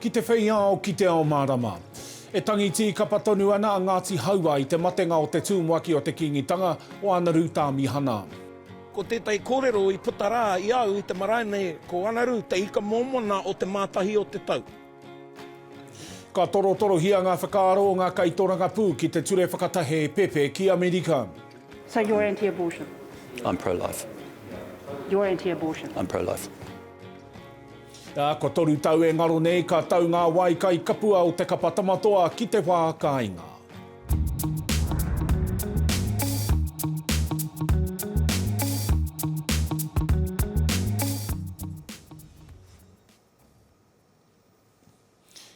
Ki te whei ao, ki te ao mārama. E tangi tīkapa tonu ana a Ngāti Hauā i te matenga o te tūmuaki o te Kīngitanga, o Anaru Tāmihana. Ko tētahi kōrero i puta rā i a au i te marae nei, ko Anaru te ika mōmona o te Mātahi o te Tau. Ka torotorohia ngā whakaaro o ngā kaitorangapū ki te ture whakatahe pepe ki Amerika. So you're anti-abortion? I'm pro-life. You're anti-abortion? I'm pro-life. Ā, kua toru tau e ngaro nei ka tau ngā wai kai kapua o Te Kapa Tamatoa ki te wā kāinga.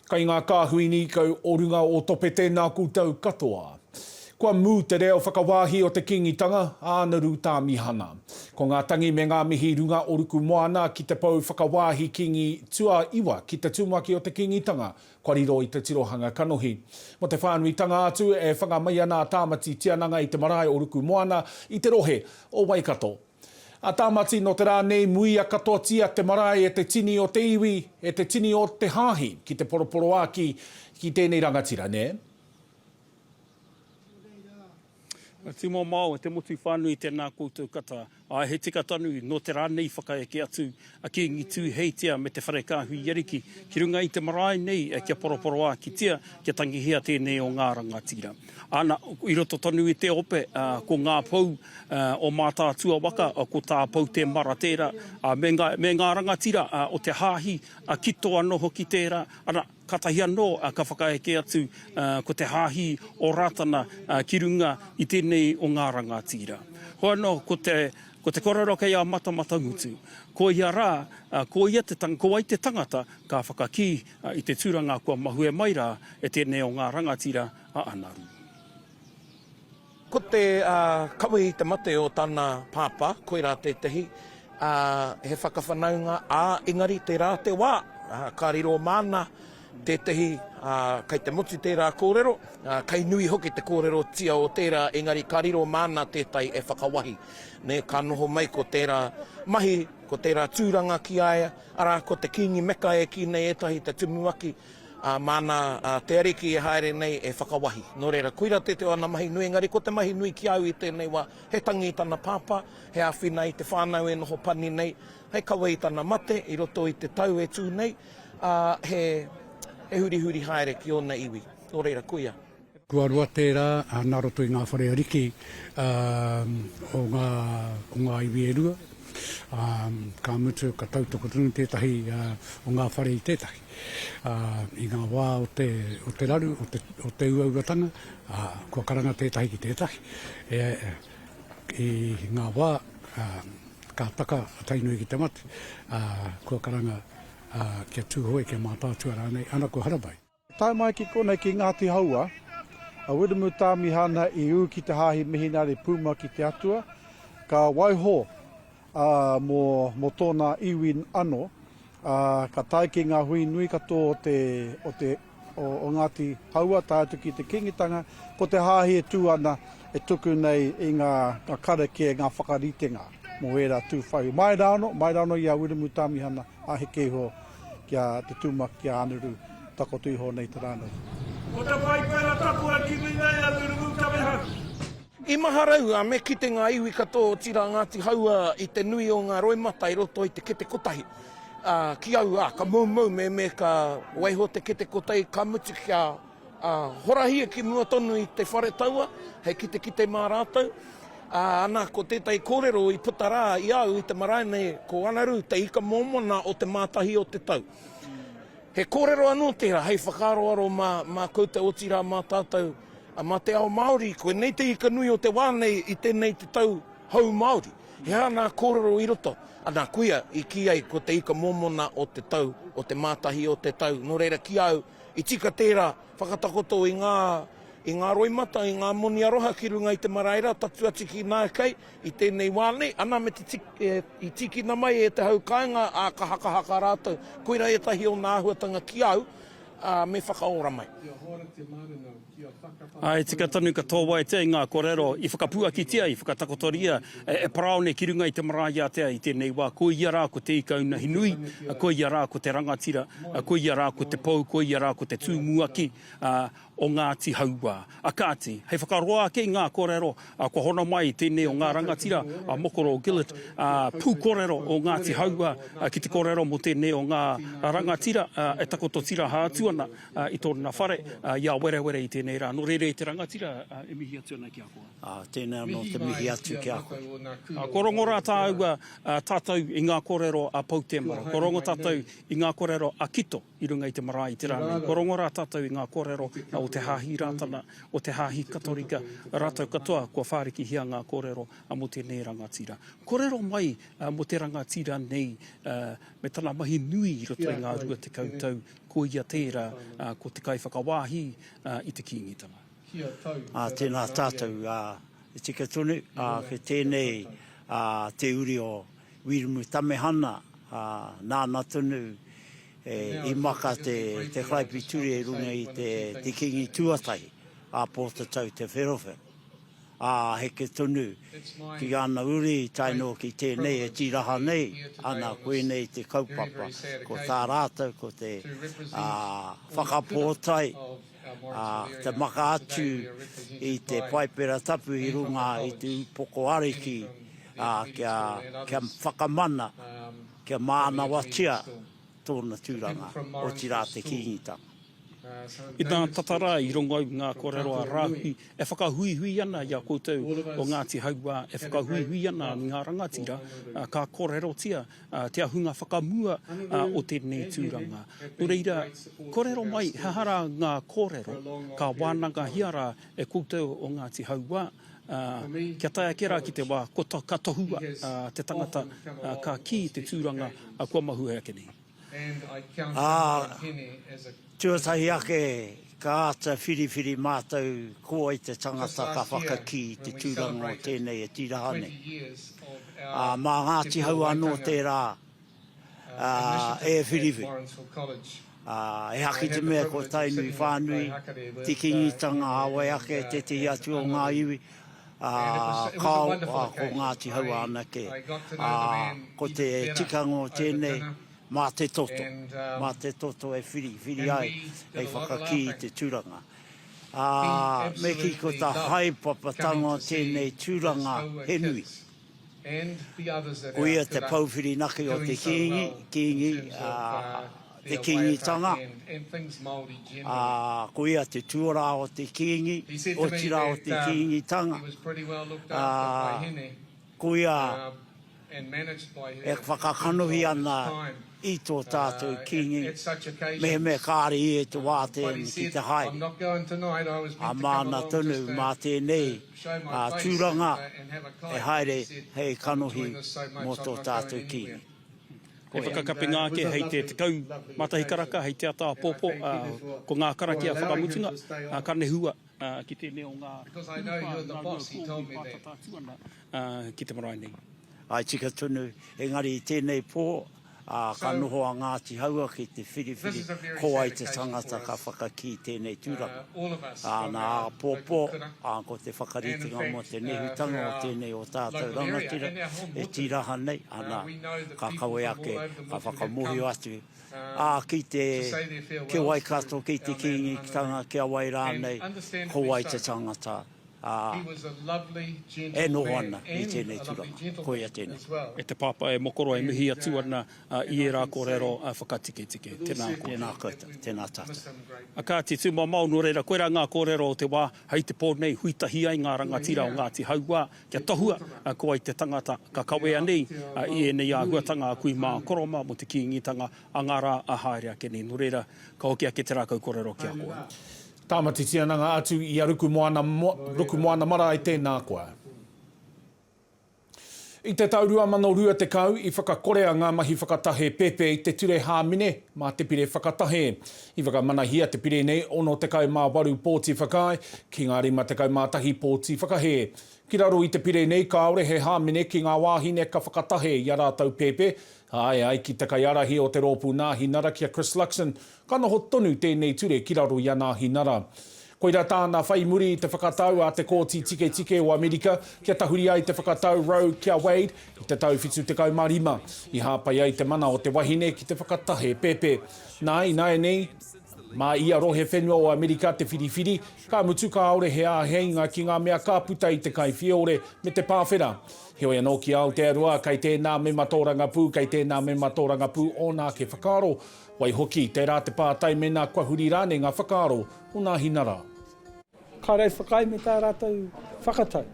Kai ngā kāhui nīkau o runga o Topete nā koutou katoa. Kua mū te reo whakawāhi o te Kīngitanga, a Anaru Tāmihana. Ko ngā tangi me ngā mihi runga o Ruku Moana ki te pou whakawāhi Kīngi Tuaiwa ki te tumuaki o te Kīngitanga kua riro i te tirohanga kanohi. Mō te whānuitanga atu, e whanga mai ana a Tāmati Tiananga i te marae o Ruku Moana i te rohe o Waikato. A Tāmati, nō te rā nei muia katoatia te marae e te tini o te iwi, e te tini o te hāhi ki te poroporoāki ki tēnei rangatira, nē? Nō reira, a Tīmamao, te motu whānui, tēnā koutou kata. Āe, he tika tonu, nō te rā nei i whakaeke atu a Kīngi Tūheitia me te whare kāhui i Ariki ki runga i te marae nei kia poroporoākitia, kia tangihia tēnei o ngā rangatira. Ana, i roto tonu i te ope, ko ngā pou o Mātaatua waka, ko tā Pou Temara tērā, me ngā rangatira o te Hāhi, Kitoa noho ki tērā, ana, Kātahi anō ka whakaeke atu ko te hāhi o Rātana ki runga i tēnei o ngā rangatira. Hoano ko te koroua kei a Matamatamutu, ko ia rā, ko ia te tangata, ko wai te tangata ka whakakī i te tūranga kua mahue mai rā e tēnei o ngā rangatira a Anaru. Ko te kawe i te mate o tana pāpā, koirā tētahi, he whakawhanaunga, ā, engari tērā te wā, ka riro māna tētahi, kei te motu tērā kōrero, kei nui hoki te kōrerotia o tērā, engari ka riro māna tētahi e whakawahi, nē, ka noho mai ko tērā mahi, ko tērā tūranga ki a ia, arā, ko te Kīngi Meka e kī nei ētahi te tumuaki, Ā, māna te Ariki e haere nei e whakawahi. Nō reira, koirā te te o ana mahi nui, engari ko te mahi nui ki a au i tēnei wā, he tangi i tana pāpā, he āwhina i te whānau e noho pani nei, hei kawe i tana mate i roto i te tau e tū nei, ā, he hurihuri haere ki ōna iwi. Nō reira, koia. Tuarua tērā nā roto i ngā whare ariki o ngā iwi e rua, ka mutu ka tautoko tonu tētahi o ngā whare i tētahi. I ngā wā o te raru, o te uauatanga, kua karanga tētahi ki tētahi. I ngā wā ka taka a Tainui ki te mate, kua karanga kia Tūhoe, kia Mātaatua rānei, ana ko Harabai. Tae mai ki konei ki Ngāti Haua, a Wiremu Tāmihana i ū ki te Hāhi Mihinare Puma ki te Atua, ka waiho mō tōna iwi anō, ā, ka tae ki ngā hui nui katoa o te, o te, o Ngāti Haua tae atu ki te Kīngitanga, ko te Hāhi e tū ana, e tuku nei i ngā karakia, ngā whakaritenga mō ērā tūwhaiwi. Mai rāno, mai rāno i a Wiremu Tāmihana Aheke iho ki a Te Tūmaki, ki a Anuru, takoto iho nei te rā nei. Ko te whai pera tapu a kimi nei a Te Rungutameharu. I maharau a me kite ngā iwi katoa otira Ngāti Hauā i te nui o ngā roimata i roto i te kete kotahi a ki au a ka moumou me me ka waiho te kete kotahi ka mutu kia Ā, horahia ki mua tonu i te whare taua, hei kitekite mā rātou. Ā, ana, ko tētahi kōrero i puta rā i a au i te marae nei, ko Anaru te ika mōmona o Te Mātahi o te Tau. He kōrero anō tērā hei whakaaroaro mā, mā koutou otirā mā tātou, ā, mā te ao Māori, koinei te ika nui o te wā nei i tēnei te tau hou Māori. He aha nā kōrero i roto? Ana, kuia, i kī ai ko te ika mōmona o te tau, o Te Mātahi o te Tau. Nō reira, ki a au, I tika tērā whakatakoto i ngā i ngā roimata, i ngā moni aroha ki runga i te marae rā, tatū atu ki Nākai i tēnei wā nei, ana me te i tīkina mai e te hau kāinga ā, ka hakahaka rātou. Koirā ētahi o nā āhuatanga ki au, ā, me whakaora mai. Āe, tika tonu ka tōwaetia i ngā kōrero i whakapuakitia, i whakatakotoria e Paraone ki runga i te marae ātea i tēnei wā, ko ia rā ko Te Ikaunahinui, ko ia rā ko te rangatira, ko ia rā ko te pou, ko ia rā ko te tūmuaki o Ngāti Hauā. Kāti, hei whakaroa ake i ngā kōrero, kua hono mai tēnei o ngā rangatira, a Mokoro Gillett, pūkōrero o Ngāti Hauā ki te kōrero mō tēnei o ngā rangatira e takoto tiraha atu ana. I tōna whare, i a Werewere i tēnei rā. Nō reira e te rangatira e mihi atu ana ki a koe. Ā, tēnā anō te mihi atu ki a koe. Kua rongo rā tāua, tātou i ngā kōrero a Poutemara. Kua rongo tātou i ngā kōrero a Kito i runga i te marae i te rā nei. Kua rongo rā tātou i ngā kōrero o te Hāhi Rātana, o te Hāhi Katorika, rātou katoa kua whārikihia ngā kōrero mō tēnei rangatira. Kōrero mai mō te rangatira nei me tana mahi nui i roto i ngā rua tekau tau Ko ia tērā, ko te kaiwhakawāhi i te Kīngitanga. Ā, tēnā tātou, ā, e tika tonu, ā, kei tēnei, ā, te uri o Wīrumu Tamehana, ā, nāna tonu e, i maka te, te Karaipituri e runga i te, te Kīngi tuatahi, ā Pōtatau Te Wherowhero. ā, heke tonu ki ana uri tae noa ki tēnei e tīraha nei ana koinei te kaupapa, ko tā rātou ko te whakapōtae, ā, te maka atu i te Paipera Tapu i runga i te upoko ariki, ā, kia whakamana, kia mānawatia. tōna tūranga, otirā te Kīngitanga. I tā tata rā i rongou ngā kōrero a Rāhui e whakahuihui ana i a koutou o Ngāti Hauā, e whakahuihui ana i ngā rangatira, ka kōrerotia te ahunga whakamua o tēnei tūranga. Nō reira, kōrero mai he aha rā ngā kōrero ka wānangahia rā e koutou o Ngāti Hauā. ā, kia tae ake rā ki te wā kua ka tohua te tangata ka kī i te tūranga kua mahue ake nei. Ā, tuatahi ake ka āta whiriwhiri mātou ko wai te tangata ka whakakī i te tūranga o tēnei e tiraha nei. Ā, mā Ngāti Hau anō tērā e whiriwhiri, ā, e haki te mea ko Tainui whānui te kīngitanga a wai ake tētehi atu o ngā iwi, ā, kāo, ā, ko Ngāti Hauā anake, ā, ko te tikanga o tēnei, mā te toto, mā te toto e whiri, whiri ai hei whakakī i te tūranga. Ā, me kī ko tā haepapatanga o tēnei tūranga he nui. Ko ia te pou whirinaki o te Kīngi, Kīngi, ā, te Kīngitanga, ā, ko ia te tuarā o te Kīngi, otirā o te Kīngitanga, ā, ko ia e whakakanohi ana i tō tātou Kīngi, mehemea kāre ia i te wā tēnei ki te haere, ā, māna tonu mā tēnei tūranga e haere hei kanohi mō tō tātou Kīngi. He whakakapinga ake hei te tekau mā tahi karaka hei te ata āpōpō, ko ngā karakia whakamutunga, ka nehua. Ā, ki tēnei o ngā hūpā nā rua kōhi pātata atu ana ki te marae nei. Āe tika tonu, engari i tēnei pō, ā, ka noho a Ngāti Haua ki te whiriwhiri ko wai te tangata ka whakakī tēnei tūranga. Ā, nā āpōpō, ā, ko te whakaritenga mō te nehutanga o tēnei o tātou rangatira e tīraha nei, anā, ka kawe ake, ka whakamōhio atu, ā, kei te kī ai katoa kei te Kīngitanga ki a wai rānei, ko wai te tangata, ā, e noho ana i tēnei tūranga. Koia tēnei. E te Pāpā, e Mokoroa, e mihi atu ana i ērā kōrero whakatiketike. Tēnā koutou. Tēnā koutou. Tēnā tātou. Kāti, tūmamao, nō reira, koirā ngā kōrero o te wā, hei te pō nei, hui tahi ai ngā rangatira o Ngāti Hauā, Kia tohua ko wai te tangata ka kawea nei i ēnei āhuatanga a kui mā Koroma mō te Kīngitanga a ngā rā a haere ake nei. Nō reira, ka hoki ake te rākau kōrero ki a koe. Tāmati Tiananga atu i a Rukumoana, Rukumoana marae tēnā koa. I te tau 2020 i whakakorea ngā mahi whakatahe pēpē i te ture hāmene mā te pire whakatahe. I whakamanahia te pire nei 68 pōti whakaae ki ngā 51 pōti whakahē. Ki raro i te pire nei kāore he hāmene ki ngā wāhine ka whakatahe i a rātou pēpē, āe ai ki te kaiārahi o te rōpū Nāhinara ki a Chris Luxon, ka noho tonu tēnei ture ki raro i a Nāhinara. Koirā tāna whai muri i te whakatau a te Kōti Tiketike o Amerika kia tahuri ai te whakatau Roe ki a Wade i te tau 75, i hāpai ai te mana o te wahine ki te whakatahe pēpē. Nā, ināianei, mā ia rohe whenua o Amerika te whiriwhiri, ka mutu kāore he āheinga ki ngā mea ka puta i te kaiwhiore me te pāwhera. Heoi anō ki Aotearoa, kei tēnā mema tōrangapū, kei tēnā mema tōrangapū ōna ake whakaaro, Waihoki, tērā te pātai mēnā kua huri rānei ngā whakaaro o nā hina rā. Kāre whakaae me tā rātou whakatau,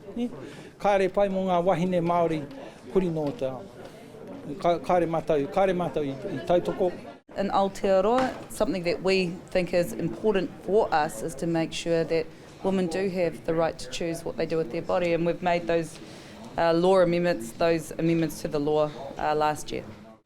kāre pai mō ngā wāhine Māori huri nō te ao. Kāre mātou, kāre mātou i tautoko. In Aotearoa, something that we think is important for us is to make sure that women do have the right to choose what they do with their body and we've made those law amendments, those amendments to the law last year.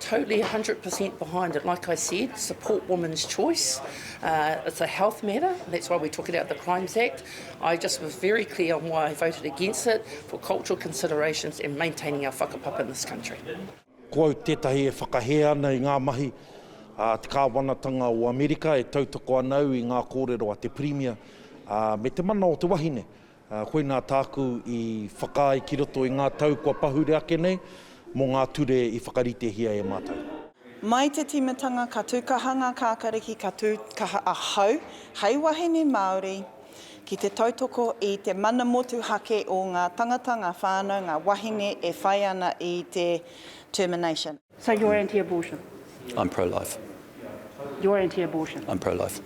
Totally 100% behind it, like I said, support women's choice, it's a health matter, that's why we took it out of the Crimes Act. I just was very clear on why I voted against it, for cultural considerations and maintaining our whakapapa in this country. Ko au tētahi e whakahē ana i ngā mahi a te Kāwanatanga o Amerika e tautoko ana au i ngā kōrero a te Pirimia me te mana o te wahine Koinā tāku i whakaae ki roto i ngā tau kua pahure ake nei, mō ngā ture i whakaritehia e mātou. Mai te tīmatanga ka tūkaha ngā kākariki ka tūkaha ahau hei wahine Māori ki te tautoko i te mana motuhake o ngā tangata, ngā whānau, ngā wahine e whai ana i te termination. So you're anti-abortion? I'm pro-life. You're anti-abortion? I'm pro-life.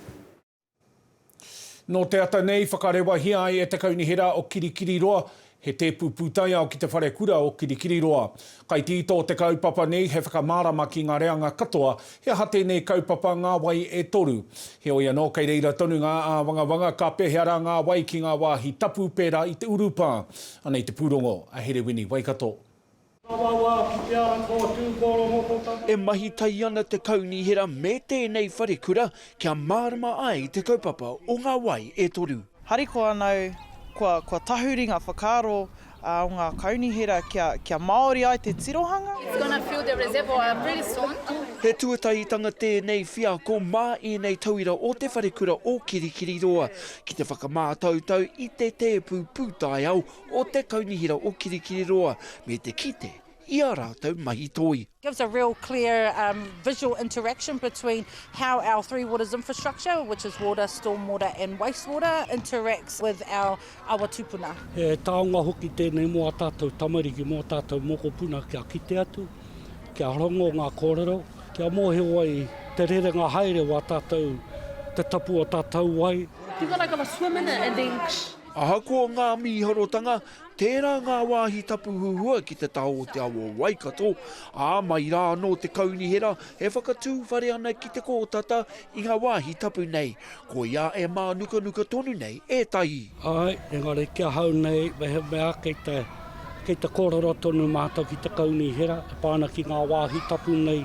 Nō te ata nei, whakarewahia ai e te Kaunihera o Kirikiriroa he tēpu pūtaiao ki te whare kura o Kirikiriroa. Kai te ito o te kaupapa nei he whakamārama ki ngā reanga katoa he aha tēnei kaupapa ngā wai e toru. Heoi anō, kei reira tonu ngā āwangawanga ka pēhea rā ngā wai ki ngā wāhi tapu pērā i te urupā. Anei te pūrongo a Herewini Waikato. Tawawa ki te ara ko Tūporomokotane. E mahi tahi ana te Kaunihera me tēnei wharekura kia mārama ai te kaupapa o ngā wai e toru. Harikoa ana au kua tahuri ngā whakaaro o ngā Kaunihera kia māori ai te tirohanga. It's gonna fill the reservoir pretty soon. He tuatahitanga tēnei wheako mā ēnei tauira o Te Wharekura o Kirikiriroa ki te whakamātautau i te tēpu pūtaiao o te Kaunihera o Kirikiriroa me te kite i ā rātou mahi toi. gives a real clear um, visual interaction between how our Three Waters infrastructure, which is water, stormwater and wastewater, interacts with our awa tupuna. He taonga hoki tēnei mō ā tātou tamariki, mō ā tātou mokopuna kia kite atu, kia rongo ngā kōrero, kia mōhio ai te rerenga haere o ā tātou, te tapu o ā tātou wai. People are going to swim in it and then. Ahakoa ngā mīharotanga, tērā ngā wāhi tapu huhua ki te taha o te awa o Waikato, ā, mai rā anō te kaunihera e whakatū whare ana ki te kōtata i ngā wāhi tapu nei, koiā e mānukanuka tonu nei ētahi. Āe, engari ki ahau nei, mehemea kei te, kei te kōrero tonu mātou ki te kaunihera e pā ana ki ngā wāhi tapu nei,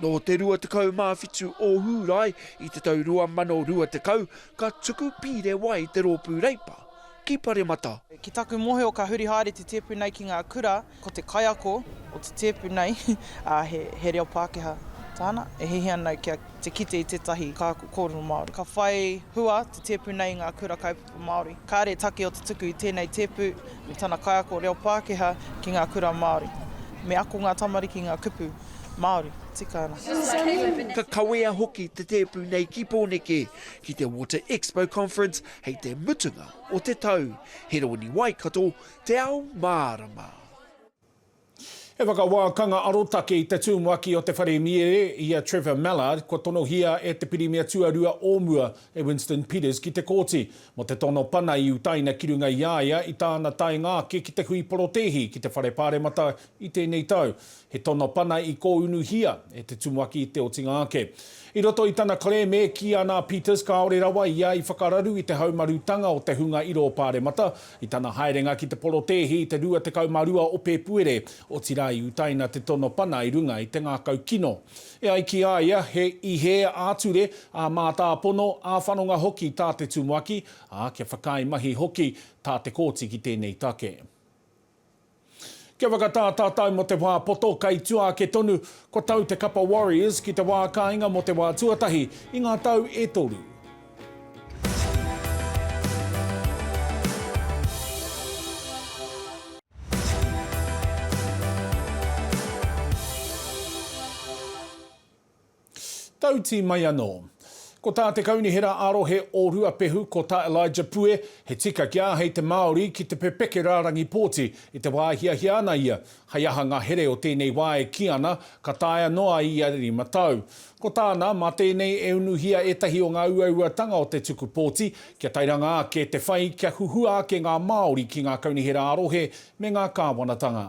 Nō te 27 o Hūrae i te tau 2020 ka tuku pīre wai te Rōpū Reipa ki Paremata. Ki taku mōhio ka huri haere te tēpu nei ki ngā kura, ko te kaiako o te tēpu nei, ā, he reo Pākehā tāna, e hihi ana kia te kite i tētahi kākau kōrero Māori. Ka whai hua te tēpu nei i ngā kura Te Māori. Kāre take o te tuku i tēnei tēpu me tana kaiako reo Pākehā ki ngā kura Māori. Me ako ngā tamariki ngā kupu Māori. Tika ana. Ka kawea hoki te tēpu nei ki Pōneke, ki te Water Expo Conference hei te mutunga o te tau. He rōniwai kato te ao mārama. He whakawākanga arotake i te tumuaki o te whare mīere i a Trevor Mallard kua tonohia e te Pirimia Tuarua o mua, e Winston Peters ki te Kōti, mō te tono pana i utaina ki runga i a ia i tāna taenga ake ki te hui porotēhi ki te Whare Pāremata i tēnei tau. He tono pana i kōunuhia e te tumuaki i te otinga ake. I roto i tana kerēme, e kīia ana a Peters kāore rawa ia i whakararu i te haumarutanga o te hunga iro o Pāremata i tana haerenga ki te porotēhi i te 22 o Pēpuere, otirā i utaina te tono pana i runga i te ngākau kino. E ai ki a ia, he ihe ā-ture, ā-mātāpono, ā-whanonga hoki tā te tumuaki, ā, kia whakaae mahi hoki tā te kōti ki tēnei take. Kia whakatātātau mō te wā poto kei tua ake tonu, kua tau te kapa Warriors ki te wā kāinga mō te wā tuatahi i ngā tau e toru. Tautī mai anō. Ko tā te Kaunihera ā-Rohe o Ruapehu, ko tā Elijah Pue, he tika kia āhei te Māori ki te pepeke rārangi pōti i te wā e hiahia ana ia, hei aha ngā here o tēnei wā e kī ana ka taea noa ai ia rima tau. Ko tāna, mā tēnei e unuhia ētahi o ngā uauatanga o te tuku pōti, kia tairanga ake te whai, kia huhua ake ngā Māori ki ngā Kaunihera ā-Rohe me ngā Kāwanatanga.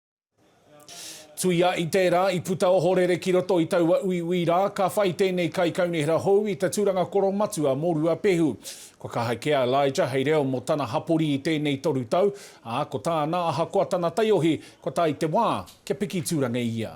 Tuia i tērā, i puta ohorere ki roto i taua uiui rā, ka whai tēnei kaikaunihera hou i te tūranga koro matua mō Ruapehu. Kua kaha kē a Elijah hei reo mō tana hapori i tēnei toru tau, ā, ko tāna ahakoa tana taiohi, kua tae te wā kia piki tūranga ia.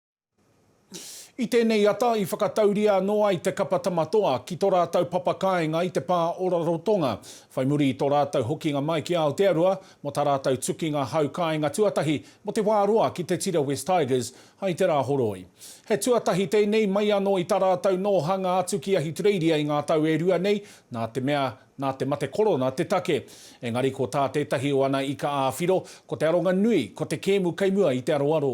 I tēnei ata i whakatauria anō ai te kapa Tama Toa ki tō rātou papa kāinga i te pā o Rarotonga, whai muri i tō rātou hokinga mai ki Aotearoa mō tā rātou tukinga hau kāinga tuatahi mō te wā roa ki te tira Wests Tigers hai te Rāhoroi. He tuatahi tēnei mai anō i tā rātou nōhanga atu ki Ahitureiria i ngā tau e rua nei nā te mea nā te mate korona te take. Engari ko tā tētahi o ana ika ā-whiro, ko te aronga nui ko te kēmu kei mua i te aroaro.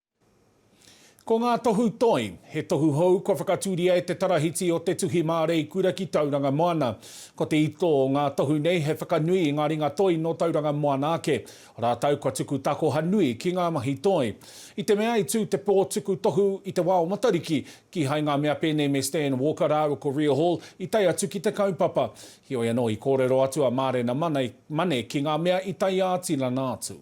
Ko ngā tohu toi, he tohu hou kua whakatūria e te Tarahiti o Te Tuhi Māreikura ki Tauranga Moana. Ko te ito o ngā tohu nei he whakanui i ngā ringa toi nō Tauranga Moana ake, rātou kua tuku takoha nui ki ngā mahi toi. I te mea i tū te pō tuku tohu i te wā o Matariki, kīhai ngā mea pēnei me Stan Walker rāua ko Ria Hall i tae atu ki te kaupapa. Heoi anō, i kōrero atu a Mārena Mane ki ngā mea i tae ā-tinana atu.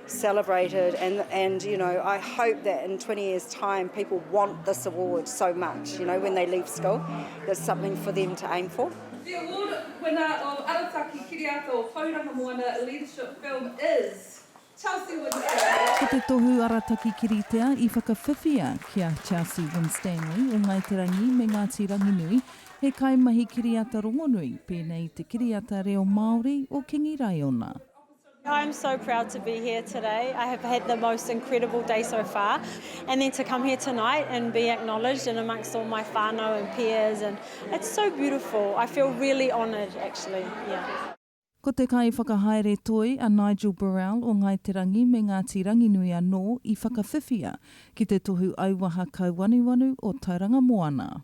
celebrated and and you know I hope that in 20 years time people want this award so much you know when they leave school there's something for them to aim for. The award winner of Arataki Kiriata o Tauranga Moana Leadership Film is Chelsea Winstanley. Ko te tohu Arataki Kiritea i whakawhiwhia ki a Chelsea Winstanley o Ngāi Te Rangi me Ngāti Ranginui, he kaimahi kiriata rongonui, pēnei i te kiriata reo Māori o Kingi Raiona. I am so proud to be here today. I have had the most incredible day so far and then to come here tonight and be acknowledged and amongst all my whānau and peers and it's so beautiful. I feel really honoured actually. Yeah. Ko te kaiwhakahaere toi a Nigel Burrell o Ngāi Te Rangi me Ngāti Ranginui anō i whakawhiwhia ki te tohu auaha kauanuanu o Tauranga Moana.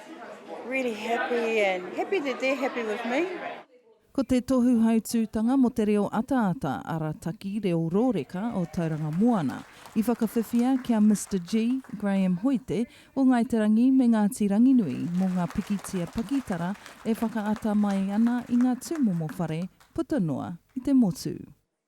Really happy and happy that they're happy with me. Ko te tohu hautūtanga mō te reo ataata arataki reo rōreka o Tauranga Moana i whakawhiwhia ki a Mister G, Graham Hoite, o Ngāi Te Rangi me Ngāti Ranginui mō ngā pikitia pakitara e whakaata mai ana i ngā tūmomo whare puta noa i te motu.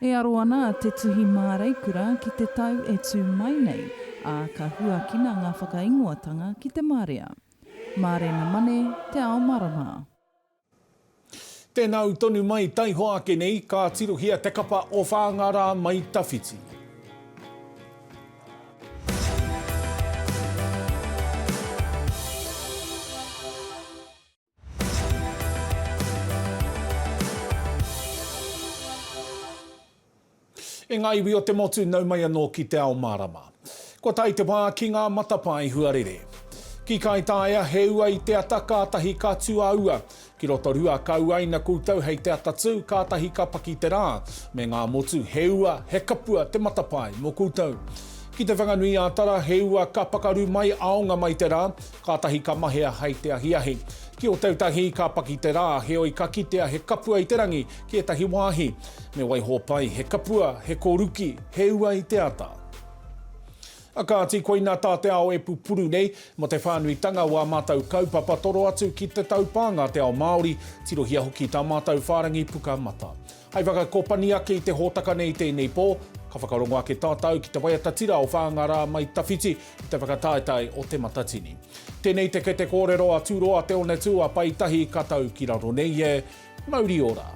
E aro ana te tuhi māreikura ki te tau e tū mai nei, ā, ka huakina ngā whakaingoatanga ki te marea. Mārena Mane, Te Ao Marama. Tēnā au tonu mai taihoa ake nei, ka tirohia te kapa o Whāngārā mai tawhiti. E ngā iwi o te motu nau mai anō ki te ao mārama. Kua tae te wā ki ngā matapae huarere. Ki Kaitaia, he ua i te ata kātahi ka tū a ua. Ki Rotorua, ka uaina koutou hei te ata tū, kātahi ka paki te rā. Me ngā motu, he ua, he kapua te matapae mō koutou. Ki Te Whanganui-ā-Tara, he ua ka pakaru mai aonga mai te rā. Kātahi ka mahea hei te ahiahi. Ki Ōtautahi ka paki te rā, heoi ka kitea he kapua i te rangi ki ētahi wāhi. Me waiho pai, he kapua, he koruki, he ua i te ata. Kāti, koina tā te ao e pupuru nei, mō te whānuitanga o ā mātou kaupapa toro atu ki te taupānga te ao Māori, tirohia hoki tā mātou whārangi puka mata. Hei whakakopani ake i te hōtaka nei i tēnei pō, ka whakarongo ake tātau ki te waiata tira o Whāngārā mai Tawhiti i te whakataetae o Te Matatini. Tēnei te kete kōrero a Tūroa Te Onetū a Pai Tahi ka tau ki raro nei e. Mauri ora!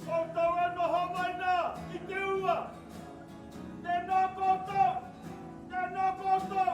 Koutou e noho mai nā i te ua. Tēnā koutou! Tēnā koutou!